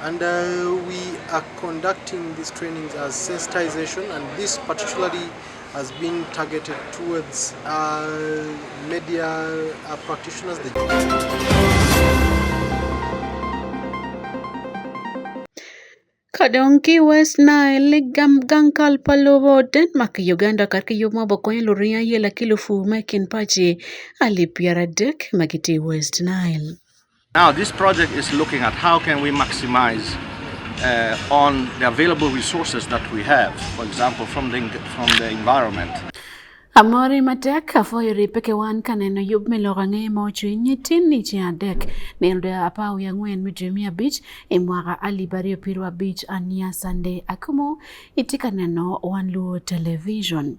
And uh, we are conducting these trainings as sensitization and this particularly has been targeted towards uh, media uh, practitioners. Kadonki West Nile gankal palobo Denmark Uganda karka yo ma boko en loria yela kilufu mekin pachi ali piara dek magiti West Nile. Now this project is looking at how can we maximize uh, on the available resources that we have, for example, from the, from the environment. Amori matek afoyo ripeke wan kaneno yub miloko ang'e ma ochwiny tin ni ci adek nilde apar wiye ang'wen mi dwe miya abich i e mwaka alip aryo piero abich ania sande akumo itye ka neno wan luo television.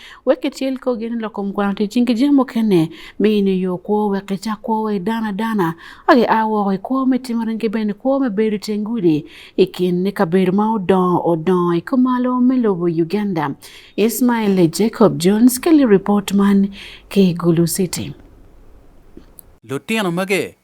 wek ityel kogi ni loko mkwano ti cing ki jami mukene mi in iyo kwo wek icak kwo wa idana dana wek ia woko i kwo me timo ringi bene kwo me bedo iteng gudi i kin ni kabedo ma odongo odongo i kumalo me lobo Uganda Ismail Jacob Jones keli report man ki Gulu City Lutino mage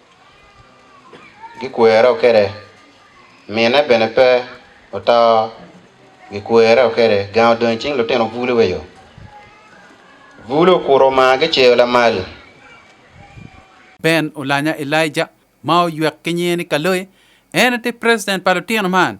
Gikwero kede mine bene pe oto gikwero kede gang odong cing lutino bulu weyo bulu okuro ma giceyo lamal Ben Olanya Elijah ma oywek ki nyinge ni Kaloe en ti president pa lutino man.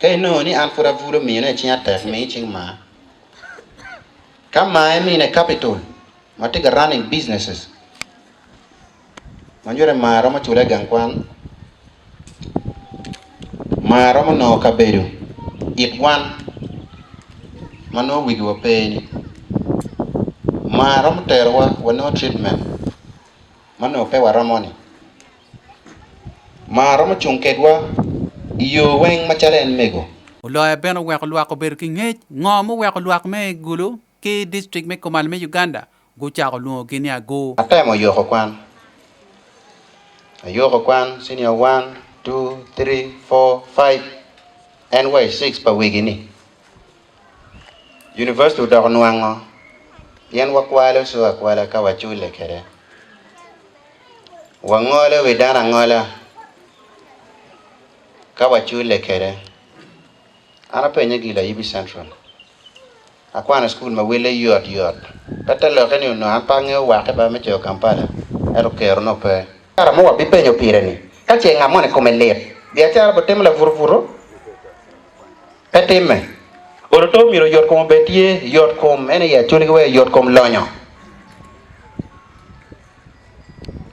Ka inongo ni an pud avulo mino e cing atek mi cing ma. Ka ma e mine capital ma tye ka running businesses. Ma jure ma romo chule gang kwan. Ma romo no kabedo it wan ma no wigi wa peni. Ma romo tero wa wa no treatment ma no pe wa romo ni. Mar romo cung kedwa i yo weng macalo en mego. Oloya bene oweko lwak obedo ki ngec. Ngo muweko lwak me Gulu ki district me Komal me Uganda gucako lwongogi ni Agoo? Atemo yoko kwan. Ayoko kwan senior 1, 2, 3, 4, 5 and way 6 pa wigi ni. University odoko nwango pien wakwalo su akwala ka wachule kere. Wangole wi dana ngola ka wachule kere. Ana penye gila Ibi Central. Akwana school ma wele yot yot. Kata loke ni no ampange wake ba me cheo Kampala. Ero kero no pe. Kara mo wabi penyo pire ni. Kache ngamone kome lit. Biachara botemo la vurvuro. Pe timme. Oro to omyero yot kom obed tye yot kom ene ya cuni ki wek yot kom lonyo.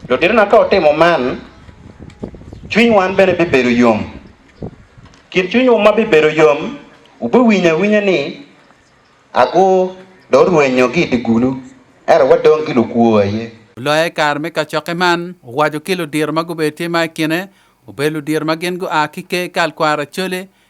Lutinona ka otimo man, cwiny wan bene bibedo yom. Kin cwinywu ma bibedo yom, wubiwinyo awinya ni agur do rwenyo ki i gulu, ento wadong ki lukwo aye. Oloya i kare me kacokke man, owaco ki ludiro ma gubedo tye ma i kine, obedo ludiro ma gin gua ki ker kal kwara Acholi,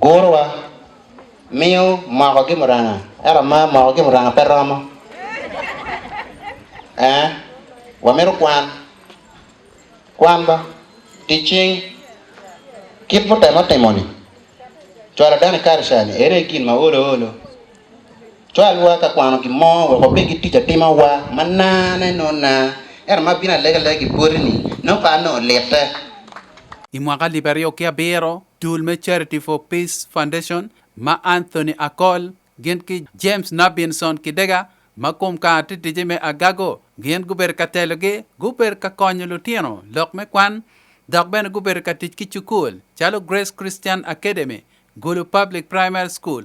Gurwa miyo moko gi muranga ero ma moko gi muranga pe romo eh wamito kwan kwan ba ticing kit mutemo timoni cwalo dani karshani ere gin ma olo olo cwalwa ka kwano gin mo weko pe gi tic atima wa ma nane no na ero ma bina lege lege gi pori ni no pa no lite I mwaka libe aryo ki abiro, Dul me Charity for Peace Foundation ma Anthony Akol gin ki James Nabinson Kidega ma kum ka titije me agago gin gubedo ka telogi gubedo ka konyo lutino lok me kwan dok bene gubedo ka tic ki cukul calo Grace Christian Academy, Gulu Public Primary School,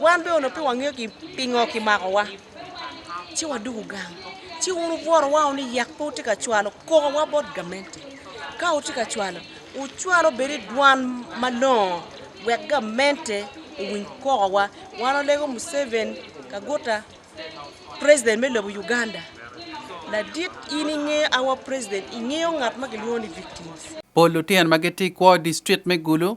Wan be ono pe wang'eyo ki pingo ki mako wa. Ci wa dugu gang. Ci unu bworo wa uni yak po tika chwalo koko wa bot gamente. Ka u tika chwalo, u chwalo beri dwan malongo wek gamente u winy koko wa. Wan olego Museven kaguta president me lobo Uganda. Ladit in ing'eyo awa president, ing'eyo ngat ma gilwongo ni victims. Pol lutino ma gitye i kwo distrit me Gulu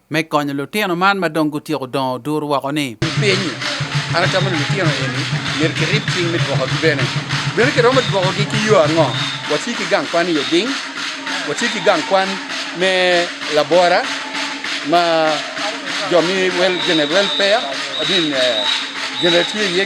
Me konyo lutino man ma dong gutyeko dongo duru woko ni. Piny, an atamo ni lutino eni myero kirib cing me dwokogi bene. Bene kiromo dwokogi ki yo ango? Wati ki gang kwan i oding, wati ki gang kwan me labora ma jo mi wel, general welfare, I mean, uh, general tye iye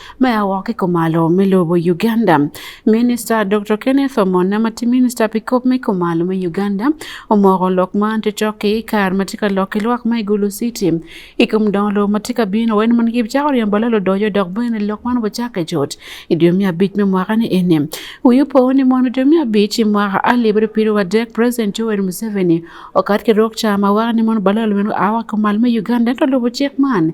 Maya wake komalo milubo Uganda. Minista Dr. Kenneth Omona ma ti minista pi kop me komalo me Uganda omoko lok ma ti cok i kar ma ti ka lok i lwak ma Igulu City. I kom dongo lo ma ti ka bino wen man gib cako riembo lalo dojo dok bene lok man wacak e jot i dwe miya abic me mwaka ni ene. Wiyo po ni mono dwe miya abic i mwaka alip ri piru wa dek President Yoweri Museveni okat ki rok ca ma waka ni mono balalo meno awa komalo me Uganda to lubo cik man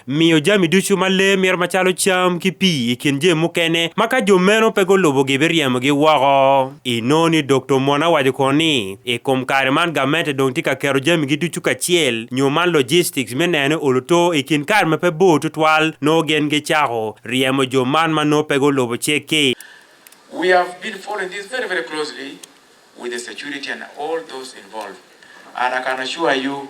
miyo jami ducu ma lee mito macalo cam ki pii i kin jami mukene ma ka jo meno pe gulubo gibiryemgi woko i noo ni doktor mona waco kono ni i kom kare man gamente dong tye ka keto jami gi ducu kacel nyo man logistics me neno oluto i kin kare ma pe bor tutwal noo gen gi cako ryemo jo man ma noo pe gulubo cek ki We have been following this very, very closely with the security and all those involved. And I can assure you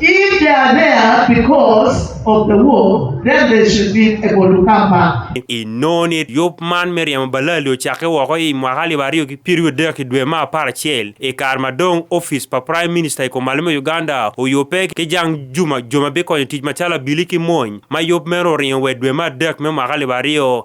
If they are there because of the war, then they should be able to come back. I noni yop man Miriam Balali ochake woko i mwaka alip ariyo gi piero adek i dwe ma apar achiel i kar madong office pa Prime Minister i komalimo Uganda oyope ki jang juma juma bikonyo tich macalo abili ki mony ma yop meno oringo we dwe ma adek me mwaka alip ariyo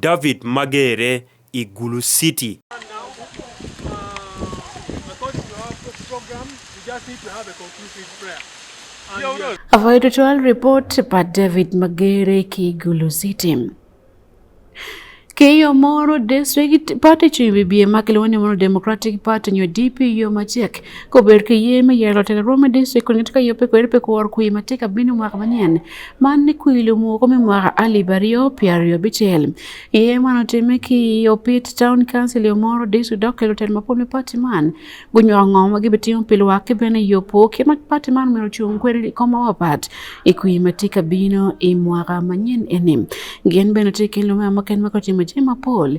David Magere, Igulu City. A vital report by David Magere, Kigulu City. Keyo moro district party chimbi biye makiluwani mono Democratic Party nyo DP yo machiek kober ke yeme yelo tele Rome district kwenye tika yope kwere pe kuwar kuyi matika bini mwaka manyen Man ni kwiri lumu ko me mwaka alip aryo pi aryo bicel iye man otime ki opit town council yo moro disu dok kelo tel mapol me pati man gunywako ngo ma gibitimo pi lwak ki bene yopo ki ma pati man omyero ocung kwede i kom mawapat i kwi ma tye ka bino i mwaka manyen eni gin bene tye ki lume muken ma kutimo jami mapol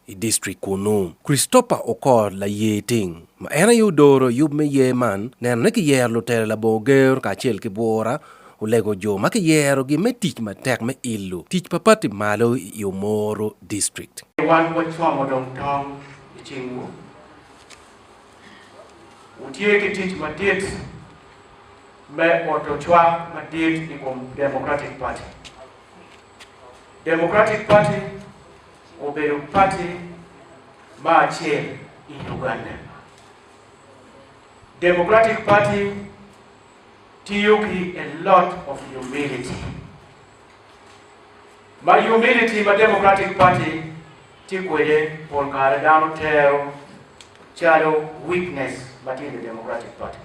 i district kunu. Christopher Okot laye ting ma en aye odoro yub me yer man neno ni kiyero lutelo labongo ger kacel ki bwora olego jo ma kiyerogi me tic matek me ilo tic pa pati malo i Omoro district. Wan wacomo dong tong i cingwu. Wutye ki tic madit me oto cwak madit i kom Democratic Party. Democratic Party obedo party ma achiel i Uganda. Democratic Party tiyo gi a lot of humility. Ma humility ma Democratic Party tikwede pol kare dano tero chalo weakness matinde Democratic Party.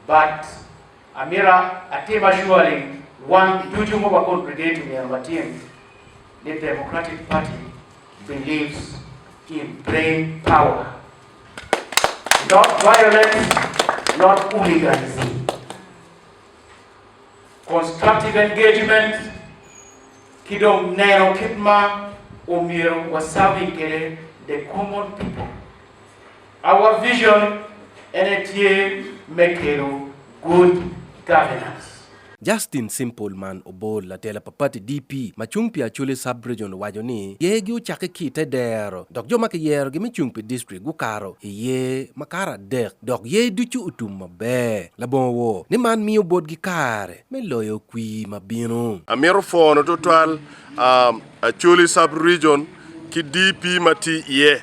But Amira atim assuring wan duto moba kod brigade miyo matin ni Democratic Party believes in brain power not violence not hooliganism constructive engagement kidong neno kit ma omyero wasawi kede the common people Our vision and a team make good governance. Justin Simple man obol latela pa pati DP ma cung pi Acholi sub-region wajo ni yegi ocakke ki te dero dok jo ma kiyerogi me cung pi district gukaro i ye ma karo adek dok ye ducu otum maber labongo wo ni man miyo botgi kare me loyo kwi ma bino. Amito fono tutwal um, Acholi sub-region ki DP ma ti iye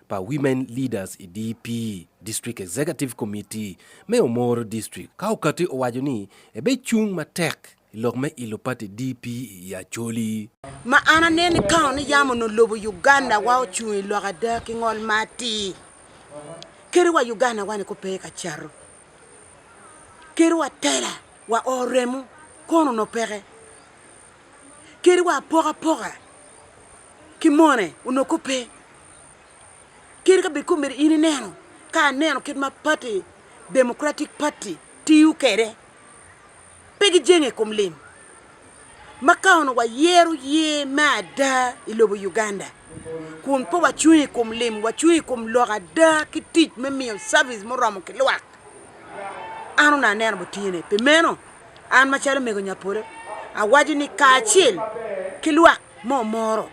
pa Women Leaders e DP District Executive Committee me Omoro District ka okati owaco ni ebe cung matek i lok me ilo pati DP i Acholi. Ma an aneno ni kaon ni yamo no lobo Uganda wa ocung i lok ada ki ngol ma atir. Kere wa Uganda wa ni ko pe ka caro. Kere wa tela wa oremu kono no peke. Kere wa apoka poka ki mone onongo kop pe kit ka bed kong omyero in ineno ka aneno kit ma party democratic party tiyo kede pe gijenge i kom lim ma ka ono wayero ye me ada i lobo uganda kun pe wacung i kom lim wacung i kom lok ada ki tic me miyo service muromo ki lwak an ona aneno butine pi meno an macalo mego nyapolo awaco ni kacel ki lwak mo moro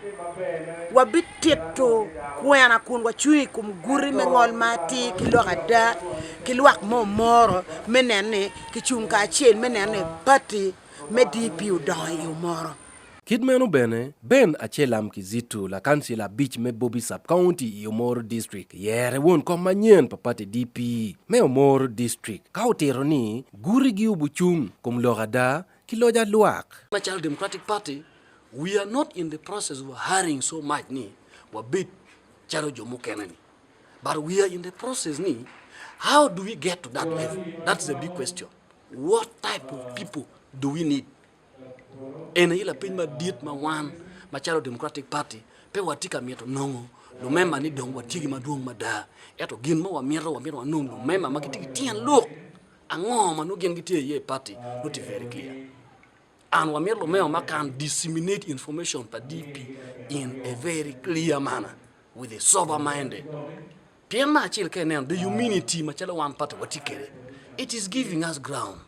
wabitito kwena kun wacung i kom guti me ngol ma atir ki lok ada ki lwak mo moro me neno ni kicung kacel me neno ni pati me dp odongo i yo moro Kit meno bene, Ben Achelam Kizito, lakansila abic me Bobi Sub County i Omoro District, yere won kom manyen pa pati DP me Omoro District ka otito ni gurigi obucung kom lok ada ki loja lwak. National Democratic Party, we are not in the process of hurrying so much ni wabed chalo jo mukene ni. But we are in the process ni how do we get to that level? That's the big question. What type of people do we need? En ila piny ma diet ma wan ma chalo Democratic Party pe watika mieto nongo lumema ni dong watigi maduong' mada eto gin ma wamieto wamieto wanong lumema ma gitigi tien luk Ang'o ma nogen gi tie ye party not very clear. And wamir Lumeo ma can disseminate information pa DP in a very clear manner with a sober minded. Pien ma achil ke neno the humanity ma chalo wan party watikere. It is giving us ground.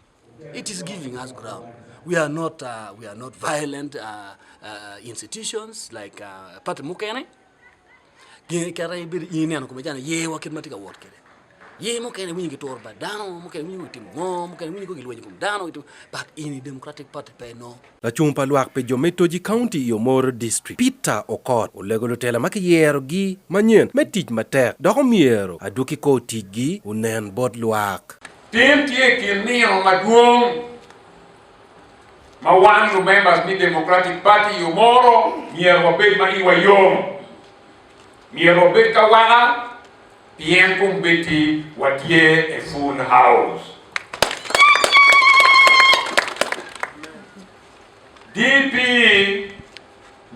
It is giving us ground. We are not, uh, we are not violent uh, uh, institutions like uh, Party Mukene. gin kata ibed in ineno kuma jana ye waket mati ka wot kede ye mokene winyi gi tur ba dano mokene winyi tim ngo mokene winyi ko gilwenyi kum dano gitu but in democratic party pe no la chung pa lwak pe jo me toji county yo mor district peter okot olego lutela ma kiyero gi manyen me tic matek dok omiero aduki ko tic gi unen bot lwak tim tye kin nino madwong ma wan to members ni Democratic Party yo moro mier wabed ma iwa yom mier wabed ka wana pien kum beti watie e full house DP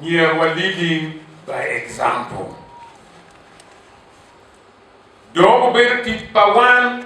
mier wa leading by example dogo bedo tich pa wan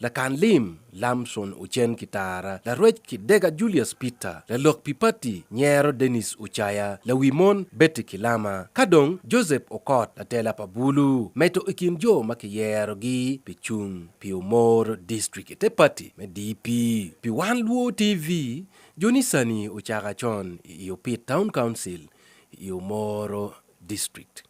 Lakan lim Lamson Ocen Kitara, larwec ki Dega Julius Peter, lalok pi pati Nyero Dennis Ocaya, lawi mon Betty Kilama, ka dong Joseph Okot, latela pa Bulu, meto i kin jo ma kiyerogi pi cung pi Omoro District i te pati me DP. Pi Wan Luo TV, Joni Sani ocaka con i Iopit Town Council i Omoro district.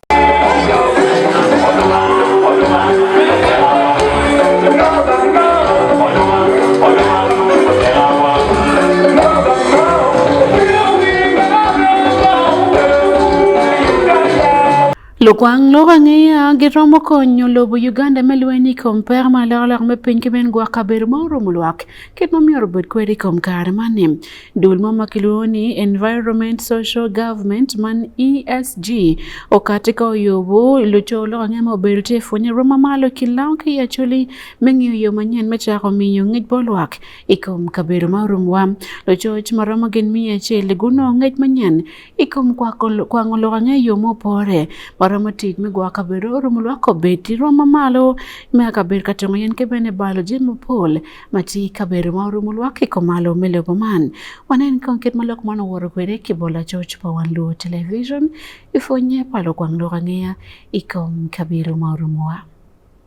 Lukwang lok ang'eya giromo konyo lobo Uganda me lweny i kom pek ma lok lok me piny ki bene gwok kabedo ma orumo lwak kit momiyo obed kwede i kom kare mani. Duol ma makiluoni Environment Social Government man ESG okati ka oyobo luco loko ng'e ma obedo tye pwonye rom mamalo ki lawo ki i acoli me ng'iyo yo manyen me cako miyo ngec bo lwak i kom kabedo ma orumwa lucoc ma romo gin miya acel guno ngec manyen i kom kwango loko ng'e yo ma opore ma romo tic me gwoko kabedo orumo lwak obed i rom mamalo me kabedo ka tongo yen ki bene balo jami mapol ma ti kabedo ma orumo lwak i kom malo me lobo man wanen kong kit ma lok man oworo kwede ki bolo acoc pa wan luo television i pwonye pa lukwang lok angeya i kom kabedo ma orumowa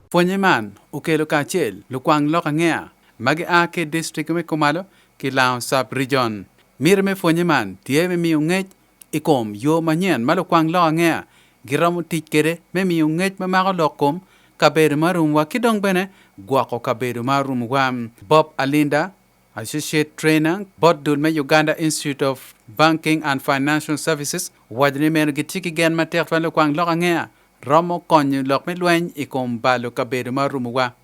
pwonye man okelo kacel lukwang lok angeya ma gia ki distrik me komalo ki lango sub rijon mire me pwonye man tye me miyo ngec I kom yo manyen ma lukwang lok angeya giromo tic kwede me miyo ngec ma mako lok kom kabedo ma rumuwa ki dong bene gwoko kabedo ma rumuwa. Bob Alinda, Associate Trainer bot dul me Uganda Institute of Banking and Financial Services, owaco ni meno gitye ki gen matek twal lukwang lok angeya romo konyo lok me lweny i kom balo kabedo ma rumuwa.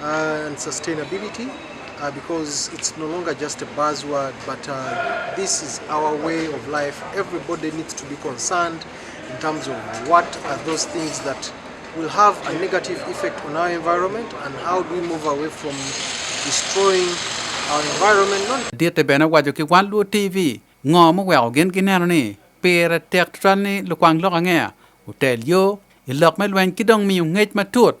Uh, and sustainability uh, because it's no longer just a buzzword, but uh, this is our way of life. Everybody needs to be concerned in terms of what are those things that will have a negative effect on our environment and how do we move away from destroying our environment. Dia te bena wajo ki wan luo TV ngo mo weo gen ki neno ni pere tek tral ni lukwang lok angea utel yo ilok me lweny ki dong miyo ngec matut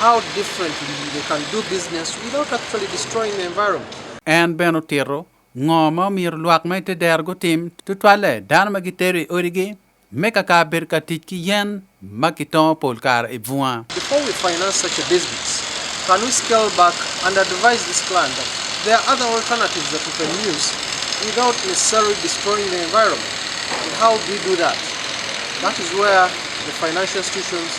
How differently they can do business without actually destroying the environment. En ben otito ngo ma omiyo lwak ma ite dero gutim tutwalle dano ma gitero i odigi me kaka bedo ka tic ki yen ma kitongo pol kare i bunga. Before we finance such a business, can we scale back and advise this client that there are other alternatives that we can use without necessarily destroying the environment? And how do we do that? That is where the financial institutions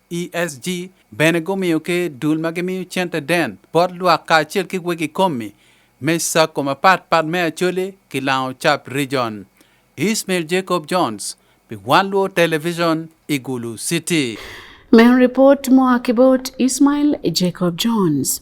ESG bene gumiyo ki dul ma gimiyo cente den bot lwak kacel ki wegi komi me sako mapatpat me Acholi ki Lango Cap Region. Ismail Jacob Jones pi One Luo Television i Gulu City. Men report moa ki bot Ismail Jacob Jones.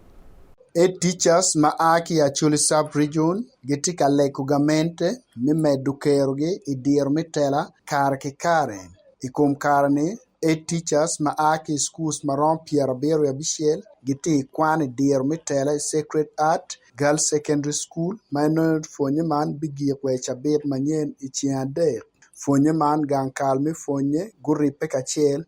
E Teachers ma aa ki Acholi Sub Region gitye ka lego gamente me medo kerogi i diro me tela kare ki kare. I kom kare-ni, E Teachers ma aa ki i schools ma romo pyerabiro wiye abicel gitye i kwan i diro me tela i Sacred Heart Girls Secondary School ma inongo pwonye man bigik wa i cabit manyen i ceng adek. Pwonye man gang kal me pwonye guribbe kacel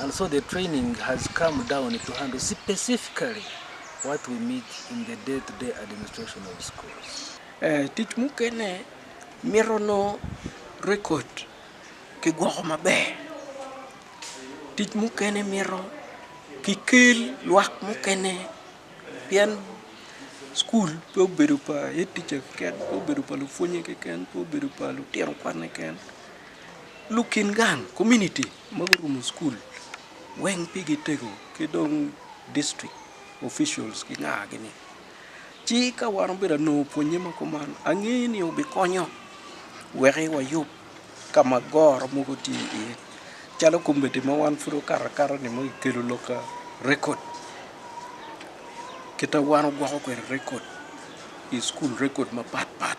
And so the training has come down to handle specifically what we meet in the day-to-day -day administration of schools. Eh, tich mukene mirono record kigwoko maber. Tich mukene miro kikel lwak mukene pien skul pe obedo pa etice keken pe obedo pa lupwonye keken pe obedo pa lutino kwane keken Lukin gang community mago rumo school weng pigi tego kidong district officials gi ng'a gini chi ka wan obedo no puonye ma kuman ang'eyi ni obi konyo weri wayub kama goro mogo ti iye chalo kombete ma wan furo kara kara ni mo ikelo loka record kita wan gwako kwer record i school record ma pat pat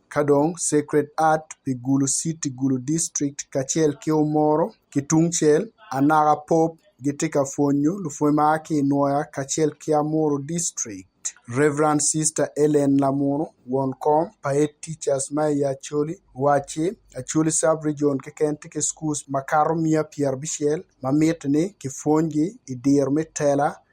Kadong, Sacred Heart, Pigulu City, Gulu District, kacel ki Omoro ki tungcel, Anaka Pope gitye ka pwonyo lupwony ma ki i Nwoya kacel ki Amuru District. Rev. Sister Ellen Lamunu, won kom pa Head Teachers ma i Acholi, owacci, Acholi Sub-Region keken tye ki schools makato miya pyerabicel ma miti ni kipwonygi i diro me tela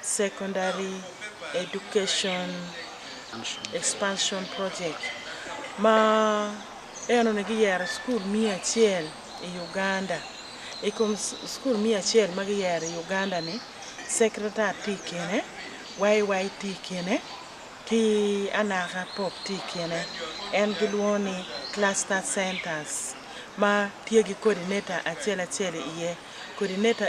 Secondary Education Expansion Project ma eno ne giyero skul mia achiel e Uganda e kom skul mia achiel ma giyero e Uganda ni secretary ti kene YY ti kene ki anaka pop ti kene en gilwongo ni cluster centers ma tye gi coordinator acel acel iye coordinator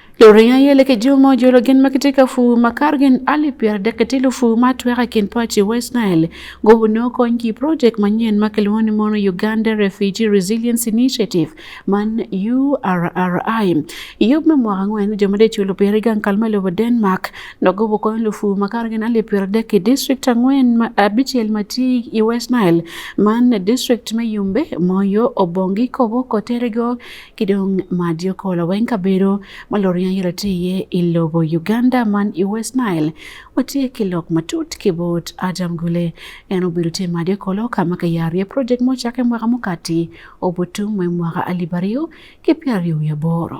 Lorien aye leke juma ojolo gin ma kitye ka pur ma kar gin alip pyera dek ki tilo pur ma tweka kin paci West Nile gobo no kony ki project manyen ma kilwongo ni mono Uganda Refugee Resilience Initiative man URRI. Yub me mwaka ngwen jo ma de chulo pyera i gang kalma lobo Denmark no gobo kony lufu ma kar gin alip pyera dek ki district angwen ma abicel ma tye i West Nile man district me Yumbe, Moyo, Obongi, Kobo, Koterego, kidong madi okolo weng kabedo ma loriya yelo tye iye i lobo Uganda man i West Nile watye ki lok matut ki bot Adam Gule en obedo tye madi okolo ka ma kiyaro iye project mo cakke mwaka mukati obutum me mwaka alip aryo ki pyero aryo wiye aboro.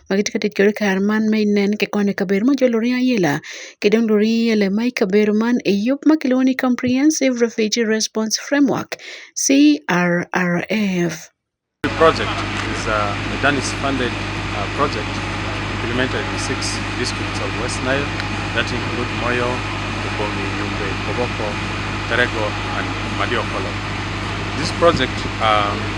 Magi tye ka tic kwede i kare man me nen ki kwan i kabedo ma jolo ringo ayela ki dong luring ayela ma i kabedo man i yub ma kilwongo ni comprehensive refugee response framework CRRF. The project is a Medanis funded uh, project implemented in six districts of West Nile that include Moyo, Ubomi, Yumbe, Koboko, Terego, and Madiokolo. This project um,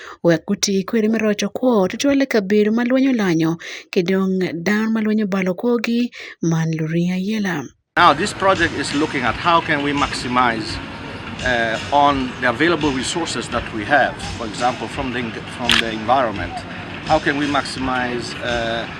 Wek guti kwiri me roco kwo tutwal i kabedo ma lweny olanyo ki dong dano ma lweny obalo kwogi man luringo ayela. Now this project is looking at how can we maximize uh, on the available resources that we have, for example, from the, from the environment. How can we maximize uh,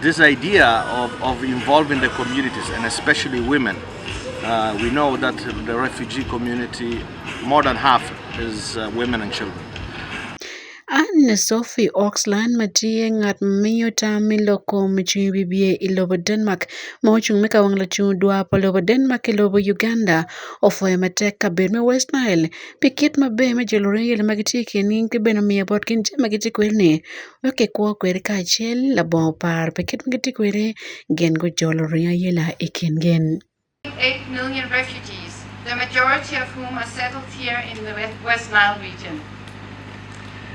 This idea of, of involving the communities and especially women, uh, we know that the refugee community, more than half is uh, women and children. Anne Sophie Oxland ma tiye ng'at miyo tam miloko michung bibie i lobo Denmark ma ocung me kawang lacung dwa pa lobo Denmark i lobo Uganda ofweyo matek kabedo me West Nile pi kit maber me jolo riyel ma gitye kengi ki bene omiyo botgi je ma gitye kwedni ma kikwo kwede kacel labongo par pe kit ma gitye kwede gin gujolo ringo ayela i kingi.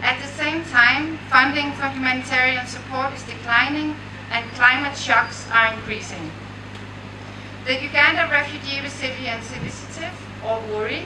At the same time, funding for humanitarian support is declining and climate shocks are increasing. The Uganda Refugee Resilience Initiative, or URI,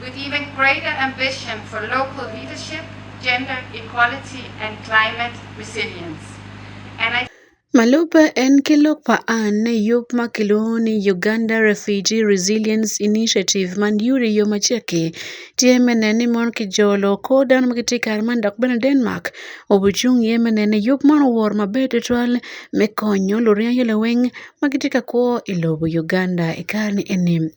With even greater ambition for local leadership, gender equality and climate resilience. And I Malupe en kelo paan ne yup ma kiluongo ni Uganda Refugee Resilience Initiative man yuri yo macheke tye me nen ni mon ki jolo kor dano ma gitye kare man dok bene Denmark obucung ye me nen ni yup man owor maber tutwal me konyo luryangi laweng ma gitye ka kwo i lobo Uganda i kare ni eni.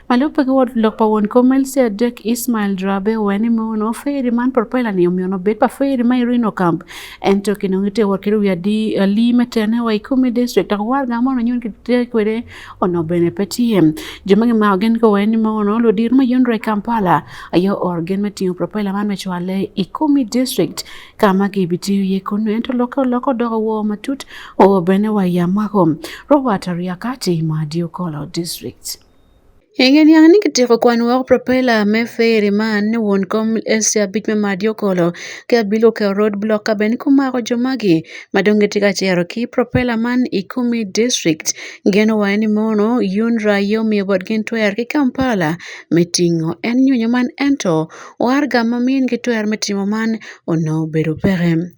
Malupe gi wuod lok pa wuon komelsi adek Ismail Drabe weni muno feri man porpela ni omiyo nobet pa feri ma irino kamp en to kino ngite war kiri wiya di ali metene wa ikumi district tak war ga mono nyon kite kwere ono bene petiem joma ngi ma ogen ko weni muno lo dir ma yonre Kampala ayo orgen metingo porpela man mechwale ikumi district kama ki biti ye kono en to loko loko dogo wo matut o bene wa yamako Robert Ariakati ma Diokolo district Engediang ni kitieko kwan wok Propela me Fairy man ni wuon kom SC abich me Madi Okolo ki Abilu Keo road block kabene kumako jo magi madong gitye ka cito ki Propela man i Kumi district geno wa ni mono UNRA aye omiyo botgi twer ki Kampala me tingo en nyonyo man ento warga ma miyo in ki twer me timo man onongo obedo peke.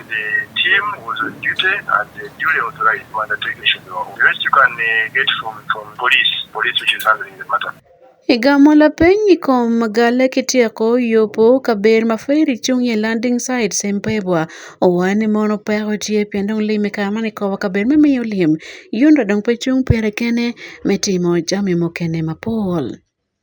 The team was on duty and the duly authorized to undertake the mission. The rest you can uh, get from, from police, police which is handling the matter. Igamo la piny ikom gale kitieko yopo kaber ma feri chung ye landing site sempebwa owani mono peko tie pien dong lime kama ni kowa kaber me miyo lim yundo dong pe chung pere kene me timo jami mokene mapol.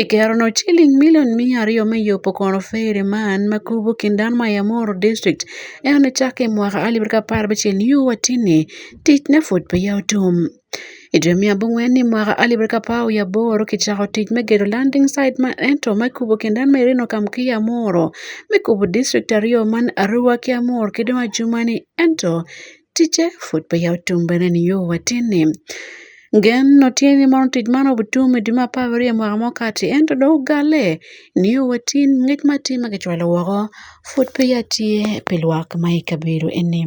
E kerno, chiling milion mia aryo me yopo kono fere ma an ma kubu kindan ma ya moro district e one chak e mwaka alib ka par ba chen yu wa tini tic ne fut pe ya otum. E dwe mia bungwe ni mwaka alib ka pao ya boro ki chako tic me gedo landing site ma ento ma kubu kindan ma irino kam ki ya moro me kubu district aryo man aruwa ki amor ki dong ajuma ni ento tije fut pe ya otum bene ni yo watini Gen no tye ni mono tic man obutum i dwe me apar aryo mwaka mo kati ento dong ogale ni yo watin ngec ma tye ma kicwalo woko pud pe ya tye pi lwak ma i kabedo eni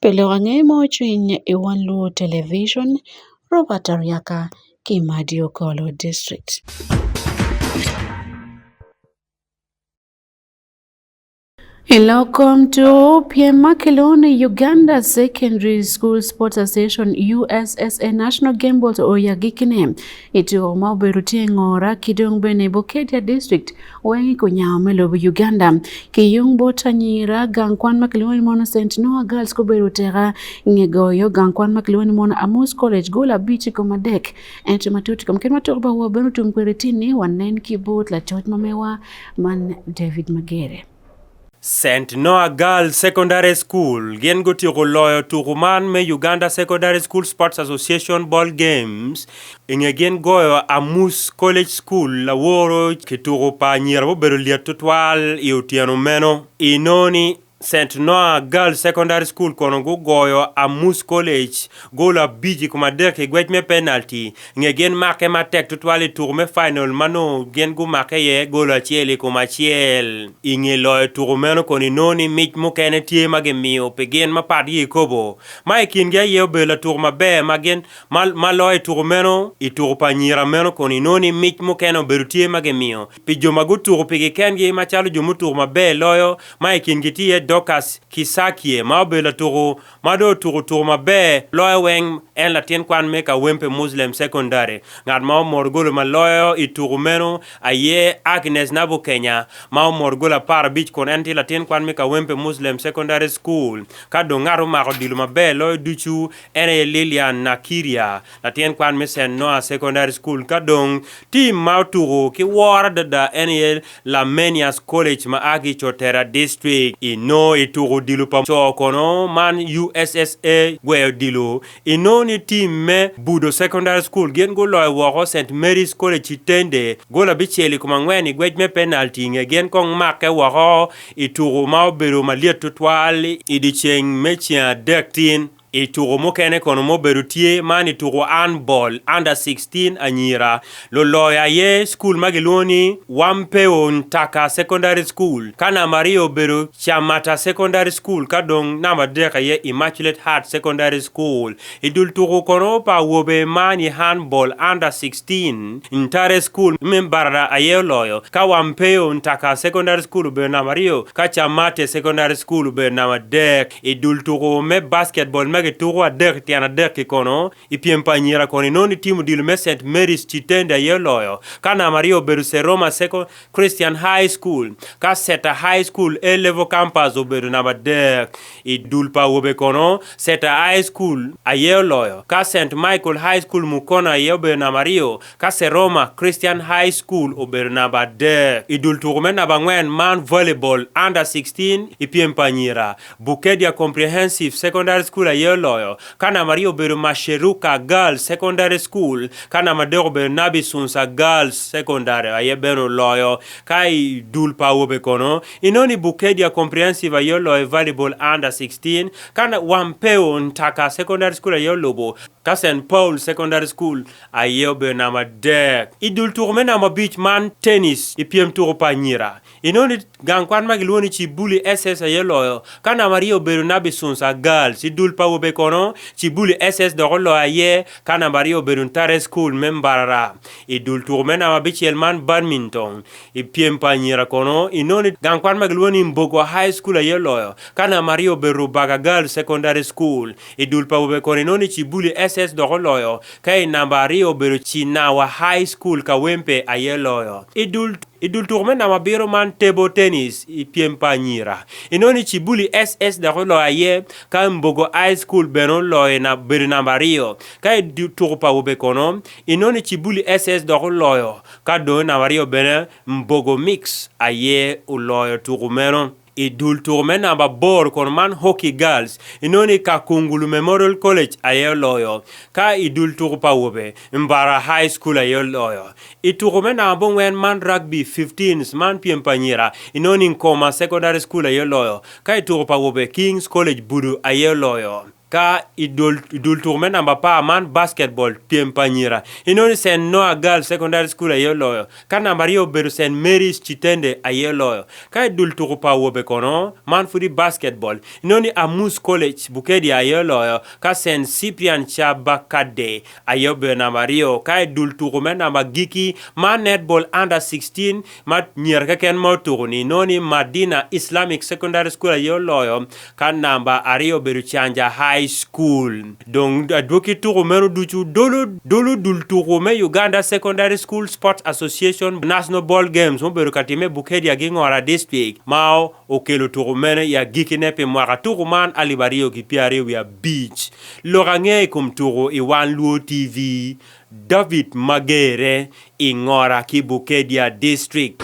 Pi lok ange ma ocwiny i wang luwo television Robert Aryaka ki Madio Kolo district. Iloko mtu piem makeloni Uganda Secondary School Sports Association USSA National Game Board oyagikine ito ma obedo tye ngora ki dong bene Bukedya District weng ikunyawo me lobo Uganda ki yung bot anyira gang kwan ma kilwongo ni mono St Noah Girls gubedo teka nge goyo gang kwan ma kilwongo ni mono Amos College gol abic kom adek ento matut kom kit matut ba wa bene otum kwede tini wanen ki bot lacoc ma mewa Man David Magere. St Noah Girls Secondary School gin gotieko loyo tuku man me Uganda Secondary School Sports Association Ball Games inge gin goyo Amus College School Laworo ki tuku pa anyira mubedo lyet tutwal i otyeno meno inoni St Noah Girls Secondary School kono gugoyo Amus College gol abic i kom adek i gwec me penalty nge gin make matek tutwal i tuku me final ma nongo gin gumake iye gol acel i kom acel. I nge loyo tuku meno kono inongo ni mic mukene tye ma gimiyo pi gin mapat gi kikopo, ma i kingi aye obedo latuku maber ma gin ma loyo i tuku meno. I tuku pa anyira meno kono inongo ni mic mukene obedo tye ma gimiyo pi jo ma gutuk pigi kengi macalo jo mutuk maber loyo, ma i kingi tye Dorcas Kisakie ma obedo latuku ma dong otuku tuku maber loyo weng. En latin kwan me Kawempe Muslim Secondary. Ngat ma omoto goli ma loyo i tuku meno aye Agnes Nabukenya ma omoto goli apar abic kun en tye latin kwan me Kawempe Muslim Secondary School. Ka dong ngat omako odilo maber loyo ducu en aye Lilian Nakirya Latin kwan me St. Noah Secondary School ka dong tim ma otuku ki woro adada en aye Lamenius College ma a ki i Cotera District. Inongo i tuku odilo pa co kono man USSA gweyo odilo. Inongo ni tim me Budo Secondary School gin guloyo woko St. Mary's College i Tende gol abicel i kom angwen i ngwec me penalti i nge gin kong make woko i tuku ma obedo malyet tutwal i dyeceng me ceng adek tin. I tuko mukene kono ma obedo tye, man i tuko handball under 16 anyira, luloyo aye cukul ma gilwongo ni Wampeo Ntaka Secondary School, ka namba aryo obedo Chamata Secondary School ka dong namba adek aye Immaculate Heart Secondary School. I dul tuko kono pa awobe man i handball under 16, Ntare School me Barada aye oloyo, ka Wampeo Ntaka Secondary School obedo namba aryo, ka Chamate Secondary School obedo namba adek. I dul tuku me basketball ma kituku adek tyen adek ki kono i pyem pa anyira kono inongo ni tim odilo me St. Mary's Chitende aye oloyo ka namba aryo obedo St. Roma Second Christian High School ka Seta High School A Level Campus obedo namba adek. I dul pa awobe kono Seta High School aye oloyo ka St. Michael High School Mukono aye obedo namba aryo Ka Seroma Christian High School obedo namba adek i dul tuko me namba angwen man Volleyball Under 16 i pyem pa anyira, Bukedia Comprehensive Secondary School aye oloyo, ka namba aryo obedo Masheruka Girls Secondary School, ka namba adek obedo Nabi Sunsa Girls Secondary aye bene oloyo. Ka i dul pa awobe kono, inoni Bukedia Comprehensive aye oloyo Volleyball Under 16, ka Wampeo Ntaka Secondary School aye olubo, ka St Paul Secondary School Aye obedona madek. I dul tuko me namba abic man tennis i pyem tuko pa anyira, inongo ni gang kwan ma gilwongo ni Chibuli SS aye oloyo, ka namba aryo obedo Nabi Sunsa Girls. I dul pa awobe kono, Chibuli SS dok oloyo aye, ka namba aryo obedo Ntare School me Mbarara. I dul tuko me namba abicel man badminton, i pyem pa anyira kono, inongo ni gang kwan ma gilwongo ni Mbogwa High School aye oloyo, ka namba aryo obedo Rubaga Girls Secondary School. I dul pa awobe kono, inongo ni Chibuli SS dok oloyo, Ka i namba aryo obedo Cina wa High School, Kawempe aye loyo. I dul i dul tuko me namba abiro man Table Tennis i pyem pa anyira. Inongo ni Cibuli SS dok oloyo aye, ka Mbogo High School bene oloyo i na- bedo namba aryo. Ka i du- tuko pa awobe kono, inongo ni Cibuli SS dok oloyo, ka dong i namba aryo bene Mbogo Mix aye oloyo tuko meno. I dul tuko me namba boro kono man Hockey Girls, inongo ni Kakungulu Memorial College aye oloyo, ka i dul tuko pa awobe, Mbara High School aye oloyo. I tuko me namba abongwen man Rugby 15s man pyem pa anyira, inongo ni Nkoma Secondary School aye oloyo, ka i tuko pa awobe, Kings College Budu aye oloyo. Ka i dul i dul tuko me namba apar man basketball pyem pa anyira, inongo ni St. Noah Girls Secondary School aye oloyo, ka namba aryo obedo St. Mary's Kitende aye oloyo. Ka i dul tuko pa awobe kono, man pud i basketball, inongo ni Amus College Bukedya aye oloyo, ka St. Cyprian Chabakadde aye obedo namba aryo. Ka i dul tuko me namba agikki, man netball under sixteen, ma nyer keken ma otuko ni noni Madina Islamic Secondary School aye oloyo ka namba aryo obedo Chanja High School dong adwoki tuko meno ducu dolo dolo dul tuko me Uganda Secondary School Sports Association National Ball Games mubedo ka time Bukedia gi Ngora District ma okelo tuko meno i agikine pi mwaka tuko man alip aryo ki pyeraryo wiye abic lok ange i kom tuko i One Luo TV David Magere, Ing'ora, Kibukedia District.